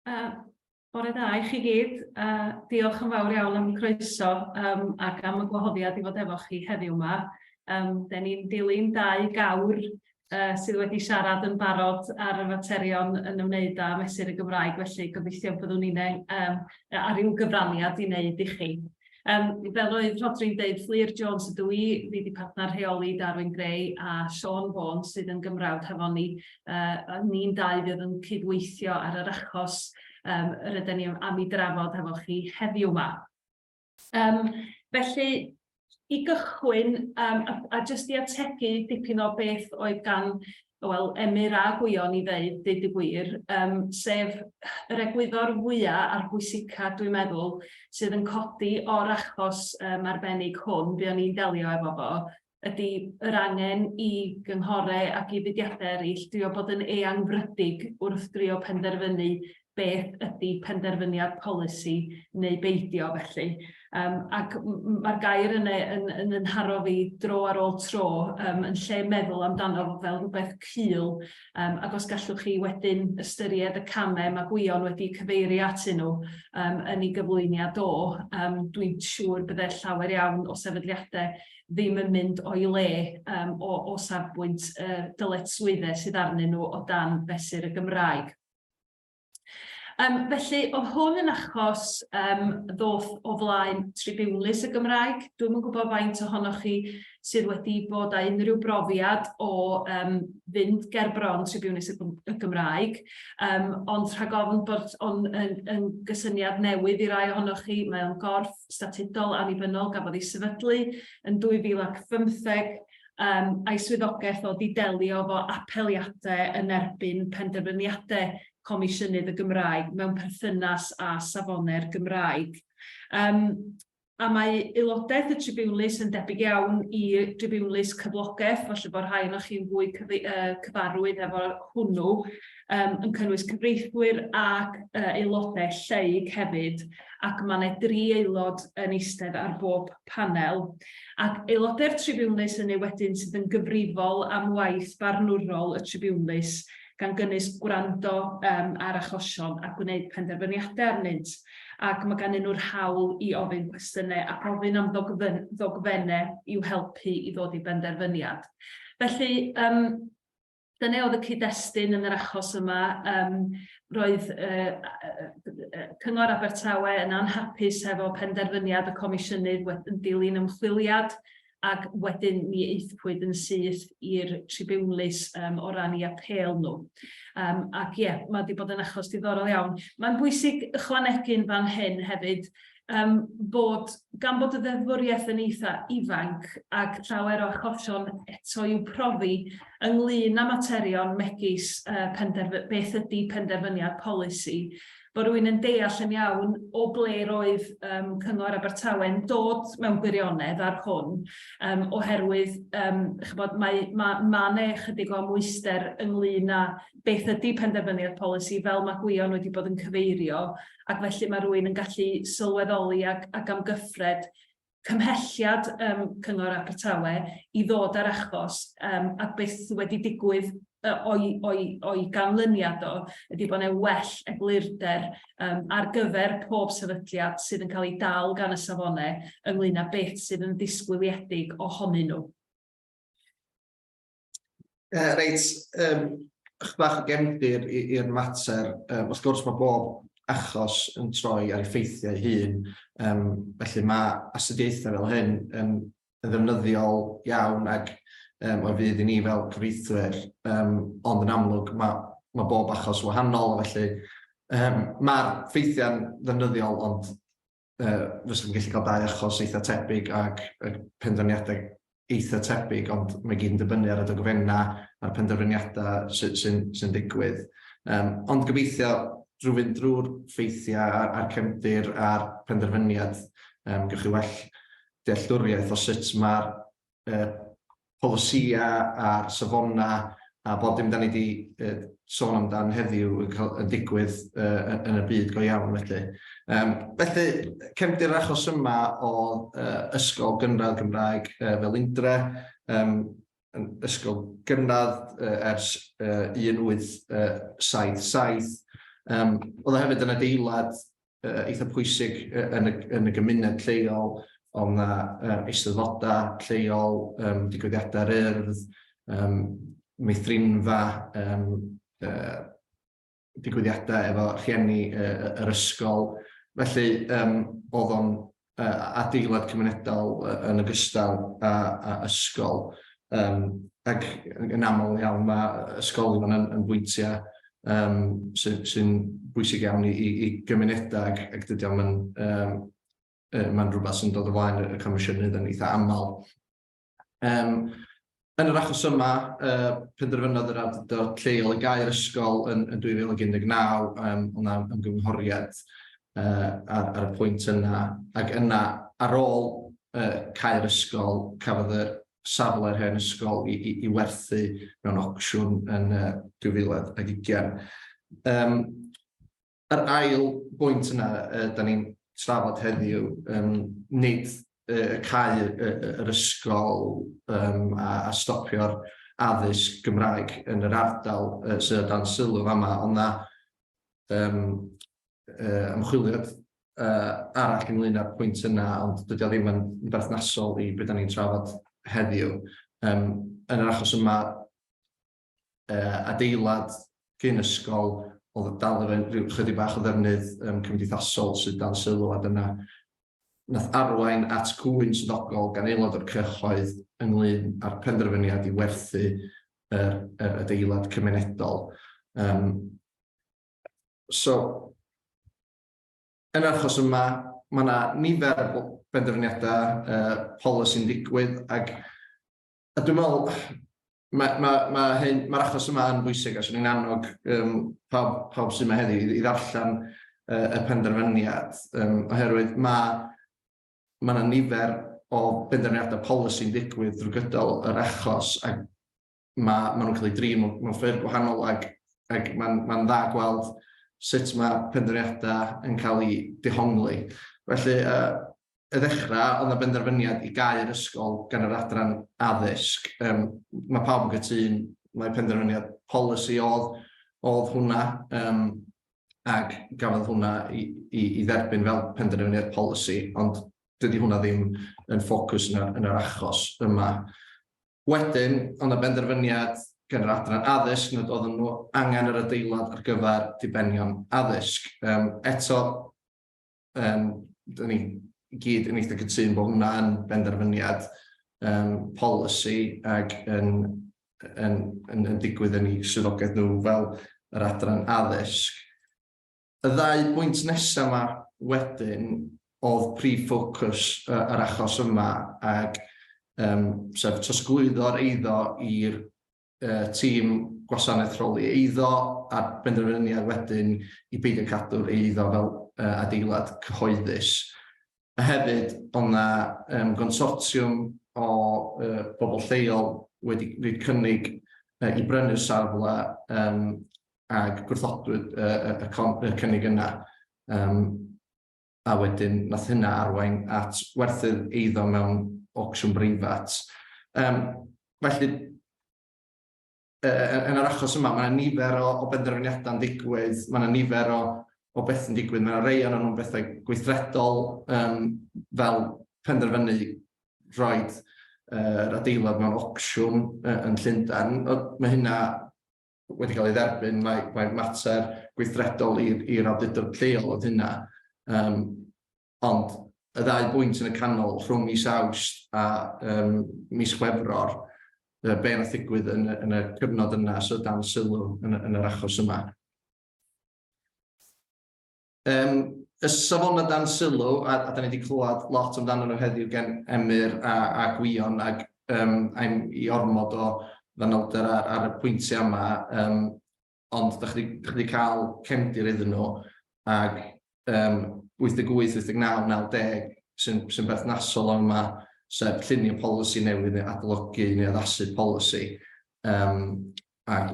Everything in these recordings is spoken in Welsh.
Uh, bore da i chi gyd, a uh, diolch yn fawr iawn am y croeso um, ac am y gwahoddiad i fod efo chi heddiw yma. Um, da ni'n dilyn dau gawr uh, sydd wedi siarad yn barod ar y faterion yn ymwneud â mesur y Gymraeg, felly gobeithio byddwn ni'n um, ar ryw gyfraniad i wneud i chi. Um, fel oedd Rhodri'n dweud, Fflir Jones ydw i, fi wedi partner rheoli Darwin Gray a Sean Vaughan sydd yn gymrawd hefo ni. Uh, ni'n dau fydd yn cydweithio ar yr achos um, yr ydyn ni am i drafod hefo chi heddiw yma. Um, felly, i gychwyn, um, a, a jyst i ategu dipyn o beth oedd gan Wel, Emyr a Gwion i ddeud deud y gwir, yym sef yr egwyddor fwya' a'r bwysica' dwi'n meddwl sydd yn codi o'r achos yym arbennig hwn buon ni'n delio efo fo, ydi yr angen i gynghore ac i fudiade eryll drio bod yn eangfrydig wrth drio penderfynu beth ydy penderfyniad polisi neu beidio felly. Um, ac mae'r gair yn, yn, yn yn nharo fi dro ar ôl tro, um, yn lle meddwl amdano fel rhywbeth cul, um, ac os gallwch chi wedyn ystyried y camau mae Gwion wedi cyfeirio atyn nhw um, yn ei gyflwyniad o, um, dwi'n siŵr byddai llawer iawn o sefydliadau ddim yn mynd o'i le um, o, o safbwynt uh, dyletswyddau sydd arnyn nhw o dan fesur y Gymraeg. Um, felly, oedd hwn yn achos um, ddoth o flaen tribiwnlys y Gymraeg. Dwi'n yn gwybod faint ohonoch chi sydd wedi bod â unrhyw brofiad o um, fynd ger bron tribiwnlys y Gymraeg, um, ond rhag ofn bod o'n yn, yn gysyniad newydd i rai ohonoch chi, mae o'n gorff statudol annibynnol gafodd ei sefydlu yn 2015 um, a'i swyddogaeth o ddidelio fo apeliadau yn erbyn penderfyniadau Comisiynydd y Gymraeg mewn perthynas â safonau'r Gymraeg. Um, a mae aelodaeth y tribiwnlys yn debyg iawn i dribiwnlys cyflogaeth, felly bod rhai ohonoch chi'n fwy cyfarwydd efo hwnnw. um, yn cynnwys cyfreithwyr ac uh, aelodau lleug hefyd, ac mae yna dri aelod yn eistedd ar bob panel. Ac aelodau'r tribiwnlys yn ei wedyn sydd yn gyfrifol am waith barnwrol y tribiwnlys, gan gynnwys gwrando um, ar achosion a gwneud penderfyniadau arnynt. Ac mae gan nhw'r hawl i ofyn cwestiynau a gofyn am ddogfennau i'w helpu i ddod i benderfyniad. Felly, um, Dyna oedd y cyd-destun yn yr achos yma. Um, roedd uh, uh, Cyngor Abertawe yn anhapus hefo penderfyniad y comisiynydd yn dilyn ymchwiliad ac wedyn mi eithpwyd yn syth i'r tribiwnlys um, o ran i apel nhw. Um, ac ie, yeah, mae wedi bod yn achos diddorol iawn. Mae'n bwysig ychwanegu'n fan hyn hefyd, um, bod, gan bod y ddeddfwriaeth yn eitha ifanc ac llawer o achosion eto i'w profi ynglyn â materion megis uh, penderf beth ydy penderfyniad polisi, bod rwy'n yn deall yn iawn o ble roedd um, Cyngor Abertawe'n dod mewn gwirionedd ar hwn, um, oherwydd um, chybod, mae, mae, mae ne chydig o amwyster ynglyn â beth ydy penderfyniad polisi fel mae Gwion wedi bod yn cyfeirio ac felly mae rwy'n yn gallu sylweddoli ag, ag amgyffred cymhelliad um, Cyngor Abertawe i ddod â'r achos um, a beth sydd wedi digwydd o'i, oi, oi ganlyniad o ydy bod yna well eglurder um, ar gyfer pob sefydliad sydd yn cael ei dal gan y safonau ynglyn â beth sydd yn ddisgwyliedig ohonyn nhw. Uh, reit, um, chydig bach o gefndir i'r mater. Um, wrth gwrs mae bob achos yn troi ar effeithiau hun, um, felly mae astudiaethau fel hyn yn ddefnyddiol iawn ac um, o fydd i ni fel cyfeithwyr, um, ond yn amlwg mae, mae bob achos wahanol, felly um, mae'r ffeithiau'n ddefnyddiol, ond uh, fyswn i'n gallu cael dau achos eitha tebyg ac y penderfyniadau eitha tebyg, ond mae gyd yn dibynnu ar y dogfennau a'r penderfyniadau sy'n sy, sy digwydd. Um, ond gobeithio drwy fynd drwy'r ffeithiau a'r, ar cefndir a'r penderfyniad, um, gwych chi well dealltwriaeth o sut mae'r y polisïau a'r safonau a bob dim dan ni wedi yy sôn amdan heddiw yn cael yn digwydd yy yy yn y byd go iawn felly. Yym felly cefndir yr achos yma o yy ysgol gynradd Gymraeg yy Felindre yym yn ysgol gynradd yy ers yy 1877 yym oedd o hefyd yn adeilad uh, eitha pwysig uh, yn, y, yn y gymuned lleol, ond na uh, eisteddfodau lleol, um, digwyddiadau ryrdd, um, meithrinfa, um, uh, digwyddiadau efo rhieni uh, yr ysgol. Felly, um, oedd o'n adeilad cymunedol yn ogystal â ysgol. Ac yn aml iawn mae ysgolion yn bwyntiau sy'n bwysig iawn i gymunedau ac dydy o'm yn... mae'n rhywbeth sy'n dod o flaen y Comisiynydd yn eitha' aml. Um, yn yr achos yma, uh, penderfynodd yr awdurdod lleol i gael ysgol yn, yn 2019, um, o'na ymgynghoriad uh, ar, ar y pwynt yna, ac yna ar ôl uh, cael ysgol, cafodd y safle'r hen ysgol i, i, i werthu mewn opsiwn yn uh, 2020. Um, Yr ail bwynt yna yy 'dan ni'n trafod heddiw yym nid yy y cau y y y yr ysgol yym a a stopio'r addysg Gymraeg yn yr ardal yy sy o dan sylw fama on' ma' yym yy ymchwiliad yy arall ynglŷn â'r pwynt yna ond dydi o ddim yn yn berthnasol i be' 'dan ni'n trafod heddiw. Yym yn yr achos yma uh, adeilad cyn ysgol oedd dal efo rhyw chydig bach o ddefnydd um, cymdeithasol sydd dan sylw a dyna nath arwain at cwyn swyddogol gan aelod o'r cyhoedd ynglyn â'r penderfyniad i werthu yr, yr adeilad cymunedol. Um, so, yn yr achos yma, mae yna nifer o benderfyniadau uh, polisi'n digwydd ac A dwi'n meddwl, mae ma, ma hyn, mae'r achos yma yn bwysig a swn i'n annog um, pawb, pawb sy'n mae heddi i ddarllen uh, y penderfyniad, um, oherwydd mae ma yna nifer o benderfyniadau polisi'n digwydd drwy gydol yr achos a mae ma nhw'n cael eu drin mewn ffyrdd gwahanol ac, ac mae'n ma dda gweld sut mae penderfyniadau yn cael eu dihongli. Felly, uh, Y ddechrau, oedd 'na benderfyniad i gau yr ysgol gan yr Adran Addysg. Yym, mae pawb yn cytûn mai penderfyniad polisi oedd oedd hwnna, yym, ac gafodd hwnna i i i dderbyn fel penderfyniad polisi, ond dydy hwnna ddim yn ffocws yn yr yn yr achos yma. Wedyn, oedd 'na benderfyniad gan yr Adran Addysg nad oedden nhw angen yr adeilad ar gyfer dibenion addysg. Yym, eto, um, dyn ni gyd yn eitha cytun bod hwnna'n benderfyniad um, polisi ac yn, yn, yn, yn digwydd yn ei swyddogaeth nhw fel yr adran addysg. Y ddau bwynt nesaf yma wedyn oedd prif ffocws uh, yr achos yma ac um, sef trosglwyddo'r eiddo i'r tîm gwasanaeth rheoli eiddo a benderfyniad wedyn i beidio cadw'r eiddo fel adeilad cyhoeddus. A hefyd, oedd 'na gonsortiwm o bobl lleol wedi gwneud cynnig i brynu'r safle ac gwrthodwyd y cynnig yna. a wedyn nath hynna arwain at werthu eiddo mewn auction breifat. Yym, felly, yn yr achos yma, mae yna nifer o, o benderfyniadau'n digwydd, mae yna nifer o, o beth yn digwydd, mae yna rei o'n nhw'n bethau gweithredol, um, fel penderfynu rhoi uh, adeilad mewn opsiwn uh, yn Llundain. Mae hynna wedi cael ei dderbyn, mae, mae mater gweithredol i'r awdurdod lleol oedd hynna. Um, ond y ddau bwynt yn y canol rhwng mis awst a um, mis chwefror, uh, be nath ddigwydd yn, yn y cyfnod yna sydd dan sylw yn, yn yr achos yma. Um, y safonau dan sylw, a, a da ni wedi clywed lot amdano nhw heddiw gen Emyr a, a Gwion, ac um, I'm i ormod o fanylder ar, ar y pwyntiau yma, um, ond da chi wedi cael cefndir iddyn nhw, ac um, 88, 89, 90 sy'n sy berthnasol o'n yma, sef llunio polisi newydd neu adolygu neu addasu polisi. Um, ac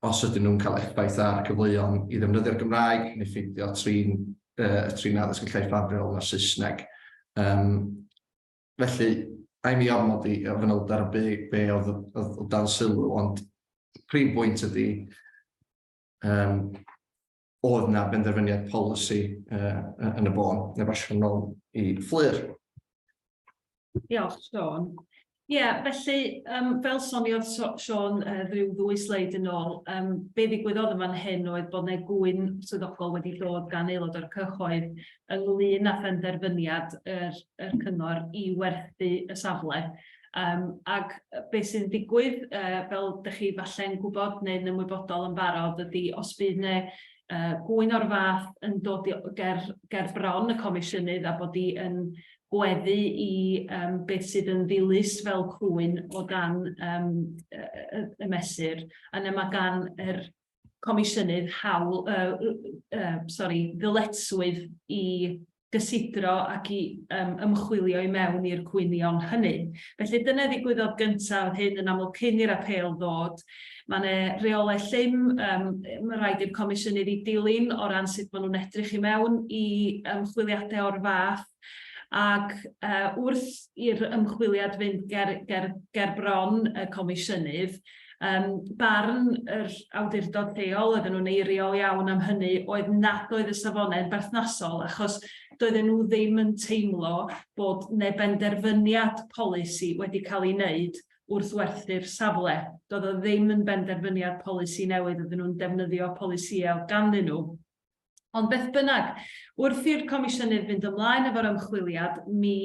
os ydyn nhw'n cael effaith ar gyfleon i ddefnyddio'r Gymraeg neu ffeindio trin yy y trin addysg yn lle ffafriol na'r Saesneg. Yym felly ai mi ormod i o fanylder o be, be oedd, oedd o dan sylw ond prif bwynt ydy um, oedd na benderfyniad polisi uh, yn y bôn, neu basio nôl i fflur. Diolch, Sean. Ie, yeah, felly, um, fel soniodd Sean uh, rhyw ddwy sleid yn ôl, um, be ddigwyddodd yn fan hyn oedd bod yna gwy'n swyddogol wedi dod gan aelod o'r cyhoedd ynglyn â phenderfyniad yr, yr cyngor i werthu y safle. Yym ac yy be' sy'n digwydd yy fel dych chi falle'n gwbod neu'n ymwybodol yn barod ydi os bydd 'ne yy gŵyn o'r fath yn dod i o- ger ger bron y Comisiynydd a bod 'i yn gweddu i yym beth sydd yn ddilys fel cŵyn o dan yym yy yy y mesur yna ma' gan yr comisiynydd hawl, uh, uh, sorry, ddyletswydd i gysidro ac i um, ymchwilio i mewn i'r cwynion hynny. Felly dyna ddigwyddodd gyntaf hyn yn aml cyn i'r apel ddod. Mae yna reolau llym, um, mae rhaid i'r comisiynydd i dilyn o ran sut maen nhw'n edrych i mewn i ymchwiliadau o'r fath. Ac yy wrth i'r ymchwiliad fynd ger, ger, ger bron y comisiynydd, um, barn yr awdurdod lleol, oedden nhw'n eiriol iawn am hynny, oedd nad oedd y safonau yn berthnasol, achos doedden nhw ddim yn teimlo bod ne benderfyniad polisi wedi cael ei wneud wrth werthu'r safle. Doedd o ddim yn benderfyniad polisi newydd, oedden nhw'n defnyddio polisïau ganddyn nhw. Ond beth bynnag, wrth i'r Comisiynydd fynd ymlaen efo'r ymchwiliad, mi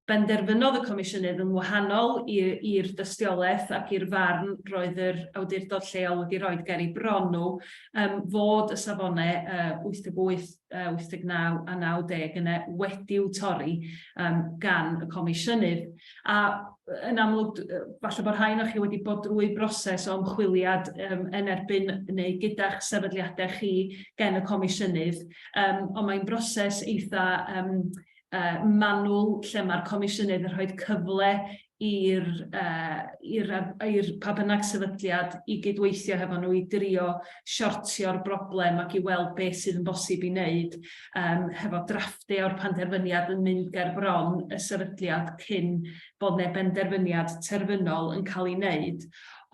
benderfynodd y Comisiynydd, yn wahanol i'r dystiolaeth ac i'r farn roedd yr awdurdod lleol wedi rhoi ger ei bron nhw, yym, fod y safonau yy 88, yy 89 a 90 yna wedi'w torri yym gan y Comisiynydd. A yn amlwg, falle bod rhai o'ch chi wedi bod drwy broses o ymchwiliad um, yn erbyn neu gyda'ch sefydliadau chi gen y comisiynydd, um, ond mae'n broses eitha um, uh, manwl lle mae'r comisiynydd yn rhoi cyfle i'r uh, pa bynnag sefydliad i gydweithio hefo nhw i drio siortio'r broblem ac i weld beth sydd yn bosib i wneud. um, hefo drafftio o'r panderfyniad yn mynd ger bron y sefydliad cyn bod neu benderfyniad terfynol yn cael ei wneud.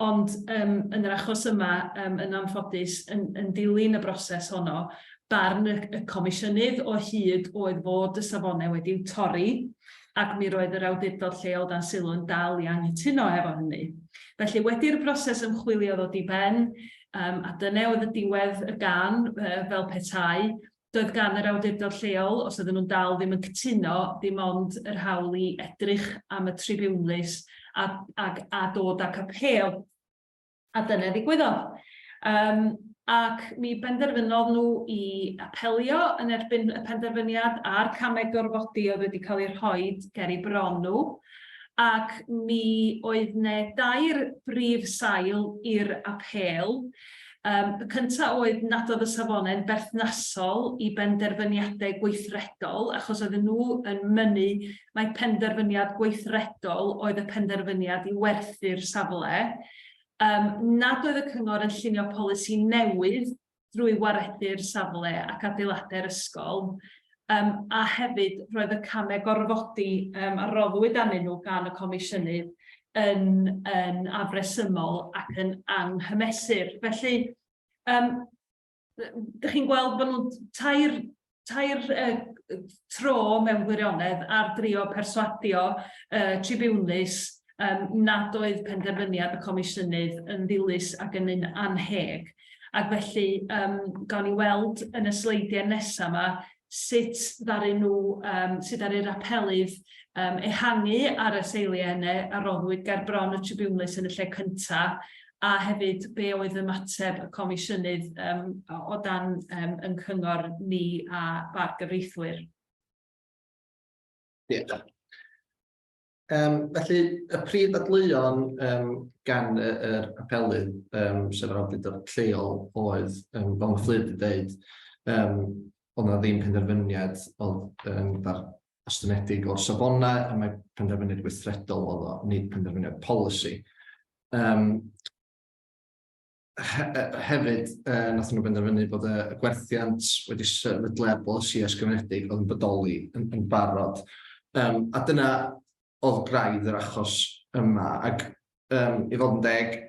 Ond um, yn yr achos yma, um, yn anffodus, yn, yn dilyn y broses honno, barn y, y comisiynydd o hyd oedd fod y safonau wedi'w torri ac mi roedd yr awdurdod lleol dan sylw yn dal i anghytuno hefo hynny. Felly, wedi'r broses ymchwilio ddod i ben, um, a dyna oedd y diwedd y gan uh, fel petai, doedd gan yr awdurdod lleol, os oedden nhw'n dal ddim yn cytuno, dim ond yr hawl i edrych am y tribiwnlys a, a, a dod ac apel. A dyna ddigwyddodd. Um, ac mi benderfynodd nhw i apelio yn erbyn y penderfyniad a'r camau gorfodi oedd wedi cael eu rhoi ger eu bron nhw, ac mi oedd ne dair brif sail i'r apel. Um, y cyntaf oedd nad oedd y safonau'n berthnasol i benderfyniadau gweithredol achos oedden nhw yn mynnu mai penderfyniad gweithredol oedd y penderfyniad i werthu'r safle, um, nad oedd y cyngor yn llunio polisi newydd drwy waredu'r safle ac adeiladau'r ysgol, um, a hefyd roedd y camau gorfodi um, a roddwyd anyn nhw gan y comisiynydd yn, yn afresymol ac yn anghymesur. Felly, um, Dych chi'n gweld bod nhw'n tair, tair uh, tro mewn gwirionedd ar drio perswadio uh, tribiwnlys um, nad oedd penderfyniad y comisiynydd yn ddilys ac yn un anheg. Ac felly, um, gawn ni weld yn y sleidiau nesaf yma sut ddaru nhw, um, sut ddaru'r apelydd um, ehangu ar y seiliau yna a roddwyd ger bron y tribiwnlys yn y lle cyntaf a hefyd be oedd ymateb y Comisiynydd um, o dan um, yn cyngor ni a bar gyfreithwyr. Diolch. Um, felly, y prif adleuon um, gan yr y, y apelydd, um, sef yr awdurdod lleol, oedd, um, fel mae Fflyd wedi dweud, um, ond na ddim penderfyniad o um, dar astynedig o'r safonau, a mae penderfyniad gweithredol oedd o, nid penderfyniad polisi. Yym, he, hefyd, uh, nath nhw benderfynu bod y gwerthiant wedi sefydlu ar bolisi ysgrifenedig oedd yn bodoli yn, yn barod. Um, a dyna oedd graidd yr achos yma. Ac um, i fod yn deg,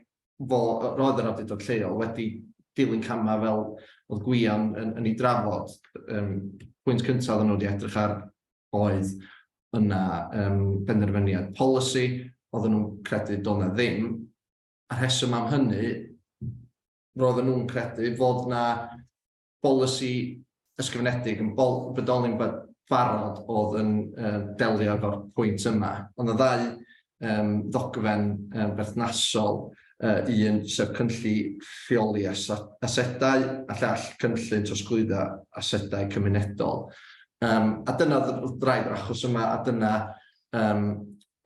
fo, roedd yr awdurdod lleol wedi dilyn camau fel oedd Gwion yn, yn ei drafod. Um, pwynt cyntaf oedd nhw wedi edrych ar oedd yna um, benderfyniad polisi, oedden nhw'n credu doedd na ddim. A rheswm am hynny, roedden nhw'n credu fod na bolisi ysgrifenedig yn bodoli'n barod oedd yn uh, delio efo'r pwynt yma. Ond y ddau um, ddogfen um, berthnasol, uh, un sef cynllu rheoli asedau a llall cynllun trosglwyddo asedau cymunedol. Um, a dyna ddraig yr achos yma, a dyna um,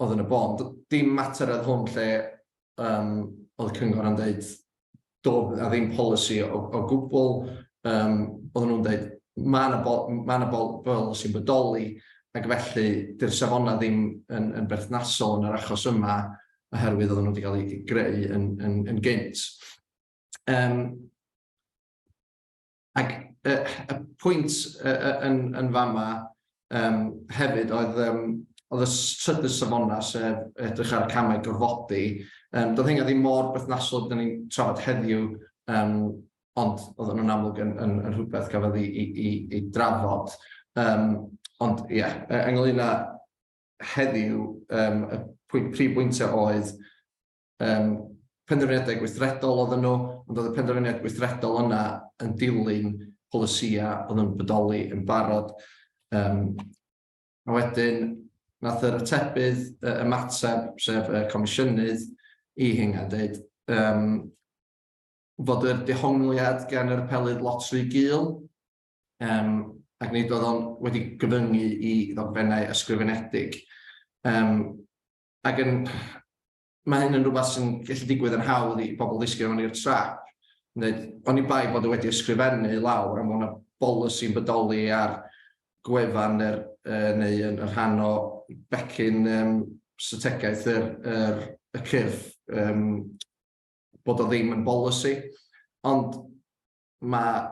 oedd yn y bond. Dim mater oedd hwn lle um, oedd y cyngor yn dweud doedd a ddim polisi o, o gwbl, um, oedden nhw'n dweud, mae yna bol, ma yna bol, bol sy'n bodoli, ac felly dy'r safonau ddim yn, yn berthnasol yn yr achos yma, oherwydd oedden nhw wedi cael eu greu yn, yn, yn gynt. Um, Ac y, y pwynt y, y, yn, yn fama um, hefyd oedd, um, oedd y trydydd safonau, sef edrych ar camau gorfodi, um, doedd hynny ddim mor berthnasol dyn ni'n trafod heddiw um, ond oedd nhw'n amlwg yn, yn, yn rhywbeth gafodd ei, ei, ei, ei drafod. Um, ond ie, yeah, ynglyn â heddiw, um, y pwynt, prif bwyntiau oedd Yym, penderfyniadau gweithredol oedden nhw, ond oedd y penderfyniad gweithredol yna yn dilyn polisia oedd yn bodoli yn barod. Um, a wedyn, nath yr atebydd y ymateb, sef y comisiynydd, i hyn a dweud um, fod yr dehongliad gan yr apelydd lotri gil, um, ac nid oedd o'n wedi gyfyngu i ddogfennau ysgrifenedig. Um, Ac yn... Mae hyn yn rhywbeth sy'n gallu digwydd yn hawdd i bobl ddisgyn mewn i'r trap, neu oni bai bod o wedi ysgrifennu i lawr a mae yna bolisi'n bodoli ar gwefan neu'r, yy, neu yn rhan o becyn um, strategaeth yr, yr, y cyrff, um, bod o ddim yn bolisi. Ond mae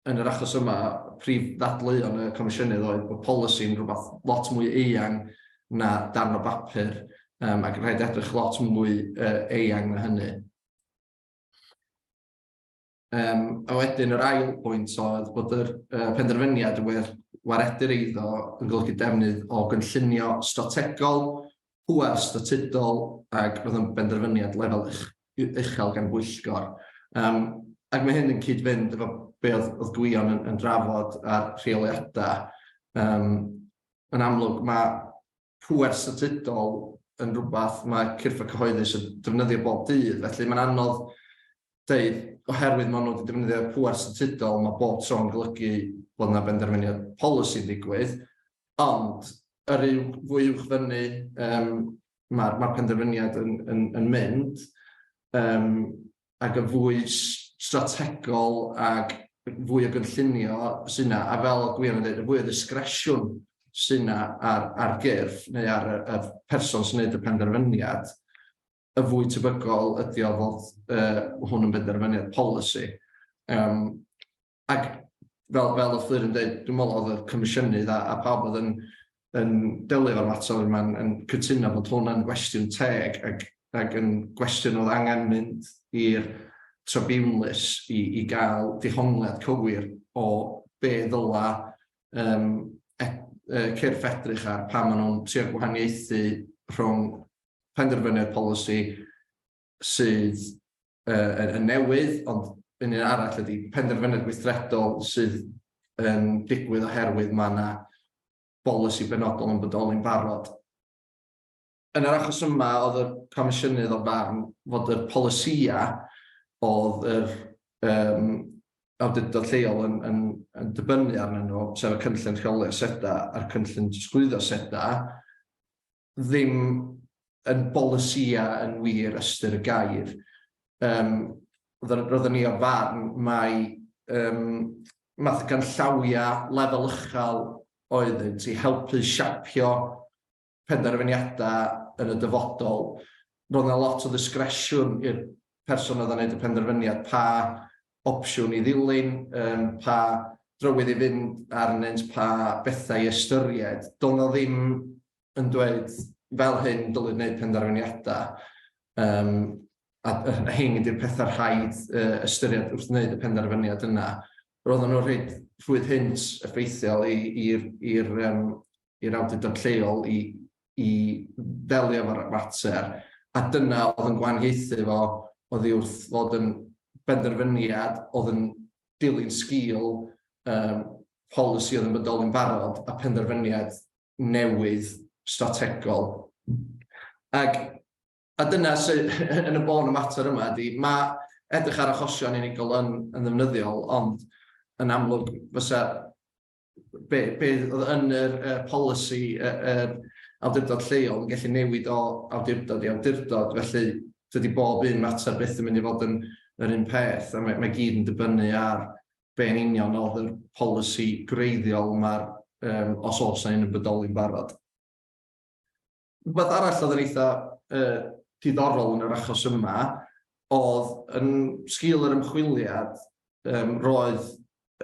Yn yr achos yma, prif ddadleuon y Comisiynydd oedd bod polisi'n rhywbeth lot mwy eang na darn o bapur, um, ac rhaid edrych lot mwy uh, eang na hynny. Um, a wedyn yr ail bwynt oedd bod yr uh, penderfyniad yn waredu'r eiddo yn golygu defnydd o gynllunio strategol pŵer statudol ac roedd yn benderfyniad lefel uchel gan bwyllgor. Um, ac mae hyn yn cyd-fynd efo be oedd, oedd Gwion yn, yn drafod a'r rheoliadau. Um, yn amlwg mae pŵer statudol yn rhywbeth mae cyrfa cyhoeddus yn defnyddio bob dydd, felly mae'n anodd dweud oherwydd maen nhw wedi defnyddio pŵer statudol, mae bob tro'n golygu bod yna benderfyniad polisi yn digwydd, Ond, yr uwch, fwy uwch fyny um, mae'r ma penderfyniad yn, yn, yn mynd, um, ac y fwy strategol ac fwy o gynllunio sy'n yna, a fel dwi yn dweud, y fwy o ddisgresiwn sy'n yna ar, ar gyrff neu ar y, y person sy'n gwneud y penderfyniad, y fwy tebygol ydy o fod uh, hwn yn benderfyniad polisi. Um, ac fel, fel oedd Fflur yn dweud, dwi'n meddwl oedd y comisiynydd a, a pawb oedd yn, yn delio efo'r mater yma'n yn cytuno bod hwn yn gwestiwn teg ac, ac yn gwestiwn oedd angen mynd i'r tribiwnlys i, i gael dihongliad cywir o be ddyla um, et, uh, cyrff edrych ar pan maen nhw'n trio gwahaniaethu rhwng penderfyniad polisi sydd yy yn newydd ond yn un arall ydy penderfyniad gweithredol sydd yn digwydd oherwydd mae yna bolisi benodol yn bodoli'n barod. Yn yr achos yma oedd y comisiynydd o farn fod y polisia oedd yr um, awdurdod lleol yn, yn, yn dibynnu arnyn nhw, sef y cynllun rheoli asedau a'r cynllun trosglwyddo asedau, ddim yn bolisïau yn wir ystyr y gair. Um, roeddwn ni o'r farn mae um, math ganllawiau lefel uchel oeddynt i helpu siapio penderfyniadau yn y dyfodol. Roedd yna lot o ddisgresiwn i'r person oedd yn gwneud y penderfyniad pa opsiwn i ddilyn, yym, pa drywydd i fynd arnynt, pa bethau i ystyried. Do'n o ddim yn dweud fel hyn dylid wneud penderfyniadau, yym, a rheiny ydy'r pethau rhaid ystyried wrth wneud y penderfyniad yna. Roedden nhw'n rhaid rhwydd hynt effeithiol i'r i'r i'r awdurdod lleol i i ddelio efo'r fater, a dyna oedd yn gwahaniaethu fo oddi wrth fod yn benderfyniad oedd yn dilyn sgil um, polisi oedd yn bodoli'n barod a penderfyniad newydd strategol. Ac, a dyna sydd yn y bôn y mater yma ydy, mae edrych ar achosion unigol yn, yn ddefnyddiol, ond yn amlwg fysa be, be oedd yn yr uh, polisi yr uh, uh, awdurdod lleol yn gallu newid o awdurdod i awdurdod, felly dydy bob un mater beth yn mynd i fod yn yr un peth, a mae, mae gyd yn dibynnu ar be'n union oedd yr polisi greiddiol mae'r, um, os oes yna yn bodoli'n barod. Rhywbeth arall oedd yn eitha uh, diddorol yn yr achos yma oedd yn sgil yr ymchwiliad um, roedd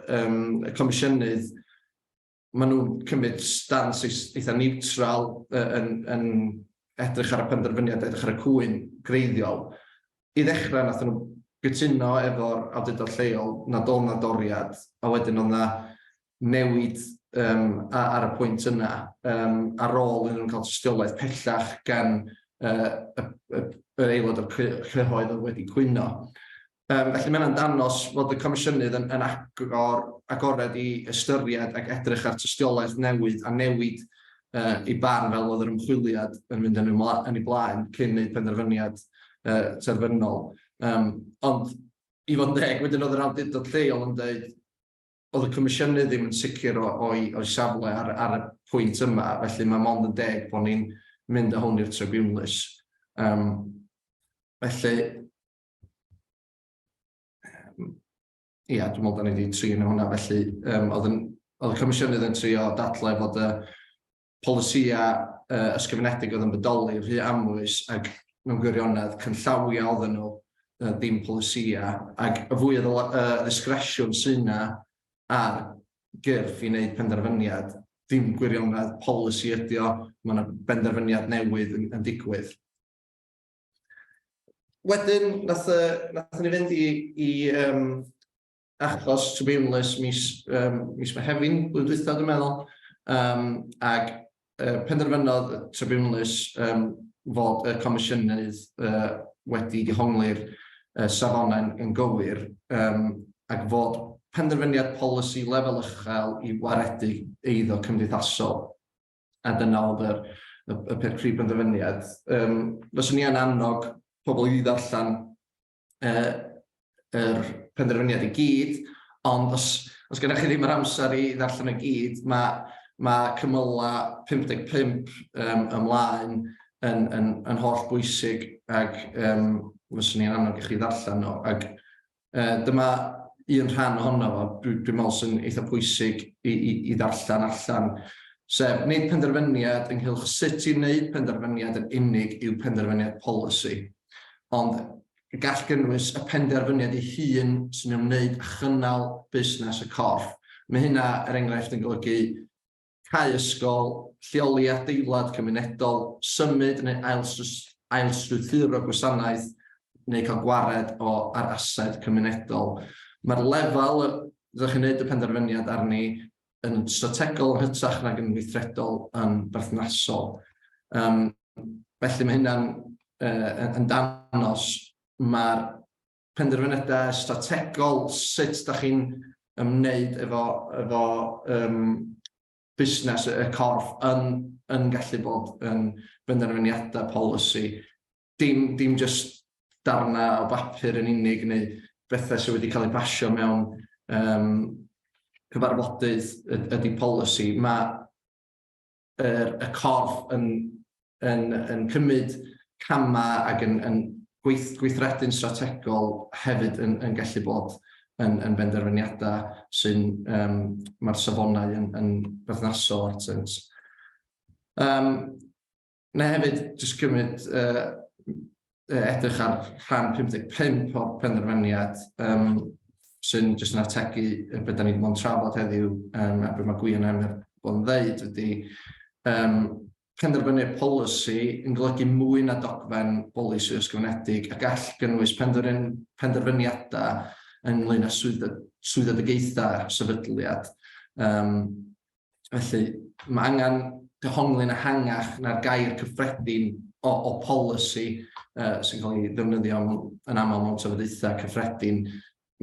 um, y comisiynydd maen nhw'n cymryd stans eitha neutral yn, yn edrych ar y penderfyniad, edrych ar y cwyn greiddiol. I ddechrau wnaethon nhw gytuno efo'r awdurdod lleol nad oedd 'na doriad, a wedyn oedd 'na newid yym a- ar y pwynt yna yym ar ôl iddyn nhw cael tystiolaeth pellach gan yy y y yr aelod o'r cy- cyhoedd oedd wedi cwyno. Yym felly ma' hynna'n danos fod y Comisiynydd yn yn agor agored i ystyried ac edrych ar tystiolaeth newydd a newid yn ei barn fel oedd yr ymchwiliad yn mynd yn ei blaen cyn gwneud penderfyniad terfynol. Ond i fod yn deg, wedyn oedd yr awdurdod lleol yn dweud oedd y Comisiynydd ddim yn sicr o'i safle ar y pwynt yma, felly mae mond yn deg bod ni'n mynd â hwn i'r tribiwnlys. Felly, ia, dwi'n meddwl da ni wedi trin yn hwnna, felly um, oedd, yn, oedd y comisiynydd yn trio dadle fod y polisiau uh, ysgrifenedig oedd yn bodoli rhy amwys ac mewn gwirionedd cynllawiau oedd nhw uh, ddim polisiau ac y fwy o uh, ddisgresiwn sy'n yna ar gyrff i wneud penderfyniad ddim gwirionedd polisi ydy o, mae yna benderfyniad newydd yn, yn digwydd. Wedyn, nath, uh, nath ni fynd i, i um, achos Tubeulus mis, um, mis Mehefin, blwyddyn dwytha, dwi'n meddwl, um, ac uh, penderfynodd Tubeulus um, fod y comisiynydd uh, wedi dihongli'r uh, safonau yn gywir um, ac fod penderfyniad polisi lefel uchel i waredu eiddo cymdeithasol. A dyna oedd y, y, y peth prif benderfyniad. Um, fyswn i yn annog pobl i ddarllen uh, yr penderfyniad i gyd, ond os, os gennych chi ddim yr amser i ddarllen y gyd, mae, mae cymylau 55 um, ymlaen yn, yn, yn holl bwysig ac um, fyswn i'n annog i chi ddarllen nhw. Ac Uh, dyma un rhan ohono fo, dwi'n dwi meddwl sy'n eitha pwysig i, i, i ddarllen allan, sef wneud penderfyniad ynghylch sut i wneud penderfyniad yn unig yw penderfyniad polisi. Ond gall gynnwys y penderfyniad ei hun sy'n ymwneud â chynnal busnes y corff. Mae hynna, er enghraifft, yn golygu cau ysgol, lleoli adeilad cymunedol, symud neu ailstrwythuro gwasanaeth neu cael gwared o ar ased cymunedol. Mae'r lefel y rydych chi'n gwneud y penderfyniad arni yn strategol yn hytrach nag yn weithredol yn berthnasol. Um, felly mae hynna'n uh, yn danos mae'r penderfynydau strategol, sut da chi'n ymwneud efo, efo um, busnes y corff yn, yn gallu bod yn benderfyniadau polisi. Dim, dim just darnau o bapur yn unig neu bethau sydd wedi cael eu pasio mewn um, cyfarfodydd ydy polisi. Mae yr, y corff yn, yn, yn cymryd camau ac yn, yn gweith, gweithredu'n strategol hefyd yn, yn gallu bod yn, yn benderfyniadau sy'n um, mae'r safonau yn, yn berthnasol atynt. Um, na hefyd, jyst cymryd uh, edrych ar rhan 55 o'r penderfyniad um, sy'n jyst yn ategu y beth da ni'n bod yn trafod heddiw um, a beth mae Gwion am bod yn ddeud ydy um, penderfynu'r polisi yn golygu mwy na dogfen bolisi ysgrifenedig a gall gynnwys penderfyniadau ynglyn â swyddodigaethau sefydliad um, Felly, mae angen dehongli'n ehangach na'r gair cyffredin o, o polisi uh, sy'n cael ei ddefnyddio yn aml mewn trafodaethau cyffredin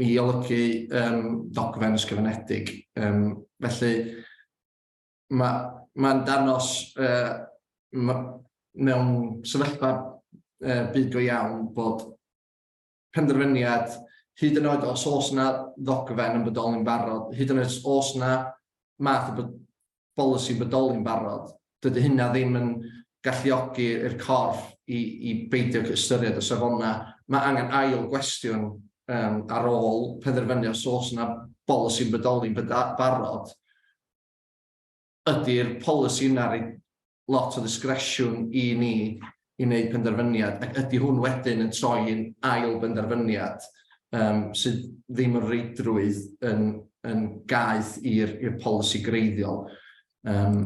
i olygu um, dogfen ysgrifenedig. Um, felly, mae'n ma danos uh, ma, mewn sefyllfa uh, byd go iawn bod penderfyniad, hyd yn oed os oes yna ddogfen yn bodoli'n barod, hyd yn oed os oes yna math o bolisi'n bodoli'n barod, dydy hynna ddim yn galluogi i'r corff i, i beidio ystyried y safonau. Mae angen ail gwestiwn um, ar ôl penderfynu os oes yna bolisi'n bodoli'n barod, ydy'r polisi yna roi lot o ddisgresiwn i ni i wneud penderfyniad, ac ydy hwn wedyn yn troi yn ail benderfyniad yym sydd ddim yn reidrwydd yn yn gaeth i'r i'r polisi greiddiol. Yym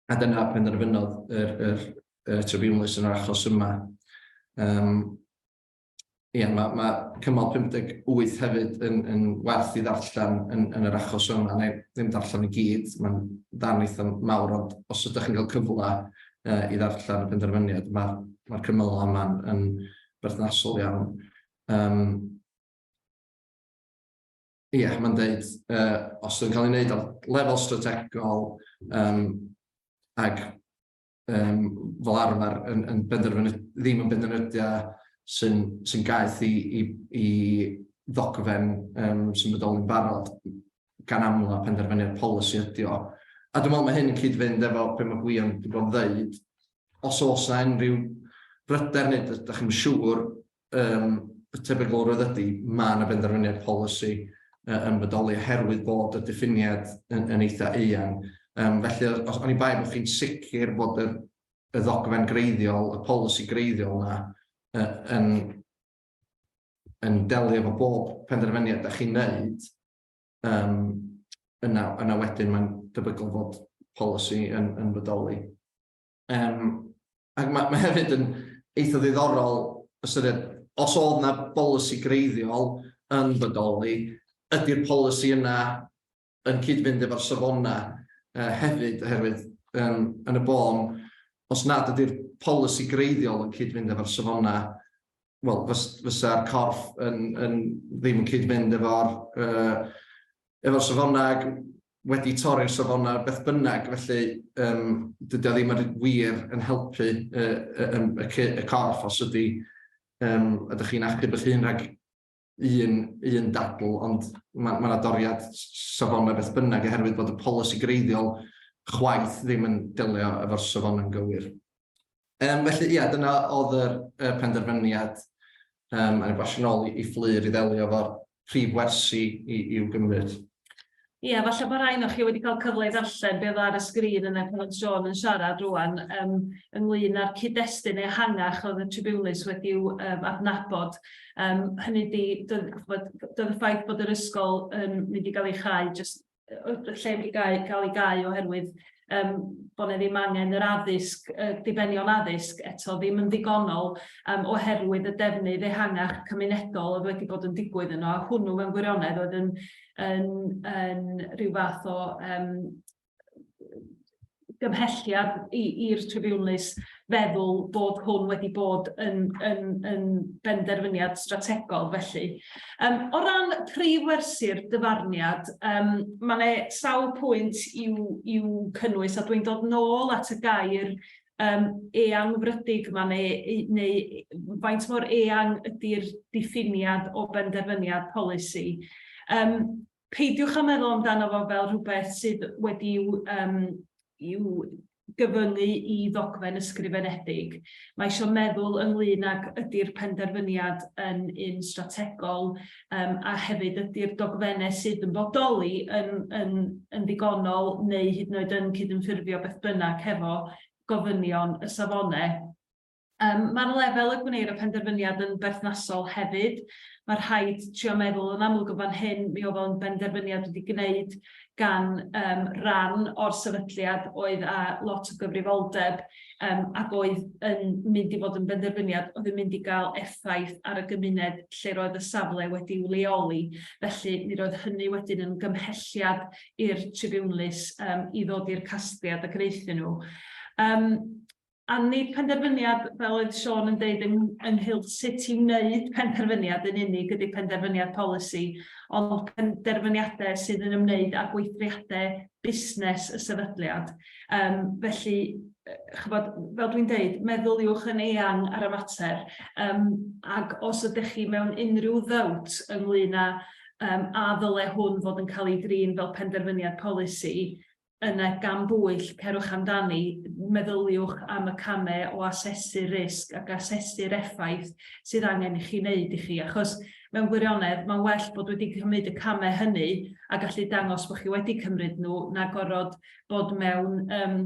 a dyna penderfynodd yr yr y tribiwnlys yn yr achos yma. Yym. Ie, mae, mae cymal 58 hefyd yn, yn werth i ddarllen yn, yn yr achos yma. Neu ddim darllen i gyd, mae'n dan eitha mawr, ond os ydych chi'n cael cyfle uh, i ddarllen y penderfyniad, mae'r mae cymal yma yn, yn berthnasol iawn. Um, Ie, yeah, mae'n dweud, uh, os ydyn cael ei wneud ar lefel strategol um, ac um, fel arfer yn, yn benderfynu, ddim yn benderfyniadau sy'n sy gaeth i, i, i ddogfen um, sy'n bodoli'n barod gan aml a penderfynu'r polisi ydi o. A dwi'n meddwl mae hyn yn cyd-fynd efo beth mae Gwion wedi bod yn dweud. Os oes yna unrhyw bryder neu ydych chi'n siŵr um, y tebygrwydd ydy, mae yna benderfyniad polisi uh, yn bodoli oherwydd bod y diffiniad yn, yn eitha eang. Um, felly, os o'n i bai bod chi'n sicr bod y, y ddogfen greiddiol, y polisi greiddiol yna, uh, yn, yn delio efo bob penderfyniad da chi'n neud, um, yna, yna wedyn mae'n debygol fod polisi yn, yn bodoli. Yym, ac mae, mae hefyd yn eitha ddiddorol ystyried, os oedd yna bolisi greiddiol yn bodoli, ydy'r polisi yna yn cyd-fynd efo'r safonau uh, hefyd, oherwydd um, yn y bôn, os nad ydy'r polisi greiddiol yn cyd-fynd efo'r safonau, wel, fysa'r corff yn, yn ddim yn cyd-fynd efo'r uh, efo safonau wedi torri'r safonau beth bynnag, felly um, dydy o ddim yn wir yn helpu y, y, y, y corff os ydy um, ydych chi'n achub eich hun rhag un, un dadl, ond mae yna ma doriad safonau beth bynnag oherwydd bod y polisi greiddiol chwaith ddim yn delio efo'r safonau'n gywir. Um, felly, ia, dyna oedd yr y penderfyniad um, a'n gwasio ôl i, i fflur i ddelio efo'r prif wersi i, i'w gymryd. Ie, yeah, falle bod rhain o'ch chi wedi cael cyfle i ddarllen beth ar y sgrin yna pan oedd Sean yn siarad rwan um, ynglyn â'r cyd-destun ehangach oedd y tribiwnlys wedi'w um, adnabod. Um, hynny di, doedd y ffaith bod yr ysgol yn mynd i gael ei chau jyst lle wedi gael, cael ei gau oherwydd um, bod e ddim angen yr addysg, y dibenion addysg eto ddim yn ddigonol um, oherwydd y defnydd ehangach cymunedol oedd wedi bod yn digwydd yno. A hwnnw mewn gwirionedd oedd yn, yn, yn rhyw fath o um, gymhelliad i i'r tribiwnlys feddwl bod hwn wedi bod yn yn yn benderfyniad strategol felly. Yym o ran prif wersi'r dyfarniad, yym ma' 'ne sawl pwynt i'w i'w cynnwys a dwi'n dod nôl at y gair yym eangfrydig 'ma neu neu faint mor eang ydy'r diffiniad o benderfyniad polisi. Yym peidiwch â meddwl amdano fo fel rhywbeth sydd wedi'w um, i'w gyfyngu i ddogfen ysgrifenedig. Mae eisiau meddwl ynglyn ag ydy'r penderfyniad yn un strategol um, a hefyd ydy'r dogfennau sydd yn bodoli yn, yn, yn ddigonol neu hyd yn oed yn cydymffurfio beth bynnag hefo gofynion y safonau. Yym, mae'r lefel y gwneir y penderfyniad yn berthnasol hefyd. Mae rhaid trio meddwl yn amlwg yn fan hyn, mi oedd o'n benderfyniad wedi gwneud gan um, ran o'r sefydliad oedd â lot o gyfrifoldeb um, ac oedd yn mynd i fod yn benderfyniad oedd yn mynd i gael effaith ar y gymuned lle roedd y safle wedi'w leoli. Felly, mi roedd hynny wedyn yn gymhelliad i'r tribiwnlys um, i ddod i'r casgliad a greithi nhw. Um, A nid penderfyniad, fel oedd Siôn yn deud, ynghylch sut i wneud penderfyniad yn unig ydy penderfyniad polisi, ond penderfyniadau sydd yn ymwneud â gweithreadau busnes y sefydliad. Um, felly, chybod, fel dwi'n deud, meddyliwch yn eang ar y mater, um, ac os ydych chi mewn unrhyw ddewt ynglyn â um, a ddyle hwn fod yn cael ei drin fel penderfyniad polisi, yna gan bwyll, cerwch amdani, meddyliwch am y camau o asesu'r risg ac asesu'r effaith sydd angen i chi wneud i chi, achos mewn gwirionedd, mae'n well bod wedi cymryd y camau hynny a gallu dangos bod chi wedi cymryd nhw na gorfod bod mewn um,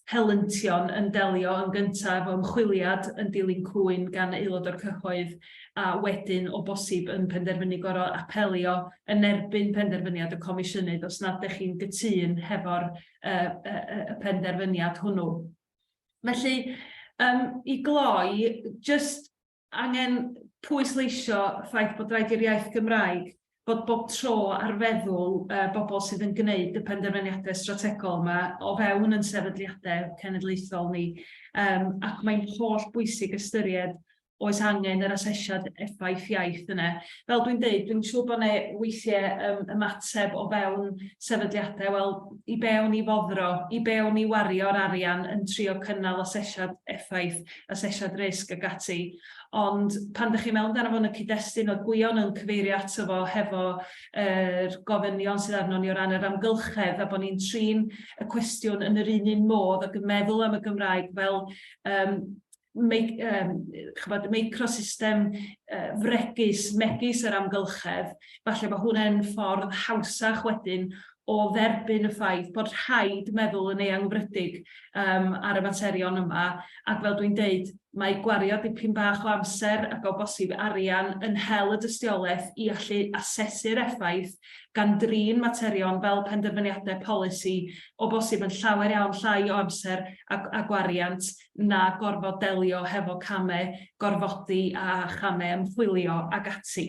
helyntion yn delio yn gyntaf efo ymchwiliad yn dilyn cŵyn gan aelod o'r cyhoedd a wedyn o bosib yn penderfynu gorfod apelio yn erbyn penderfyniad y Comisiynydd os nad ydych chi'n gytûn hefo'r yy yy yy y penderfyniad hwnnw. Felly, um, i gloi, just angen pwysleisio y ffaith bod rhaid i'r iaith Gymraeg fod bob tro ar feddwl y bobl sydd yn gwneud y penderfyniadau strategol yma o fewn yn sefydliadau cenedlaethol ni, um, ac mae'n holl bwysig ystyried oes angen yr asesiad effaith iaith yna. Fel dwi'n dweud, dwi'n siŵr bod yna weithiau um, ymateb o fewn sefydliadau, wel, i bewn i foddro, i bewn i wario'r arian yn trio cynnal asesiad effaith. asesiad risg ac ati, ond pan dych chi'n meddwl amdano fo yn y cyd-destun oedd Gwion yn cyfeirio ato fo hefo yr gofynion sydd arnon ni o ran yr amgylchedd a bod ni'n trin y cwestiwn yn yr un un modd ac yn meddwl am y Gymraeg fel um, meic, um, chybod, microsystem uh, fregus megis yr amgylchedd, falle bod hwnna'n ffordd hawsach wedyn o dderbyn y ffaith bod rhaid meddwl yn eangfrydig um, ar y materion yma, ac fel dwi'n deud, mae gwario dipyn bach o amser ac o bosib arian yn hel y dystiolaeth i allu asesu'r effaith gan drin materion fel penderfyniadau polisi o bosib yn llawer iawn llai o amser a, a gwariant na gorfod delio hefo camau gorfodi a chamau ymchwilio ag ati.